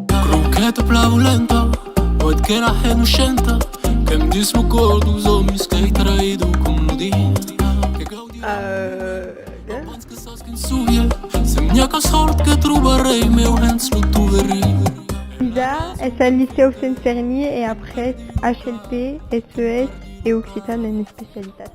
Cronqueta plaulenta Oet que la hè no chenta Qu'èm dus lo cor dos òmis Qu'èi traïdo com lo dint Que gaudi la vida Pas abans que sas qu'un sovier Se n'i a qu'a sòrt que trobarèi Meu hens lo toverit Sida, es al Licèu Sent Fermier e après HLP, SES e Occitan en especialitat.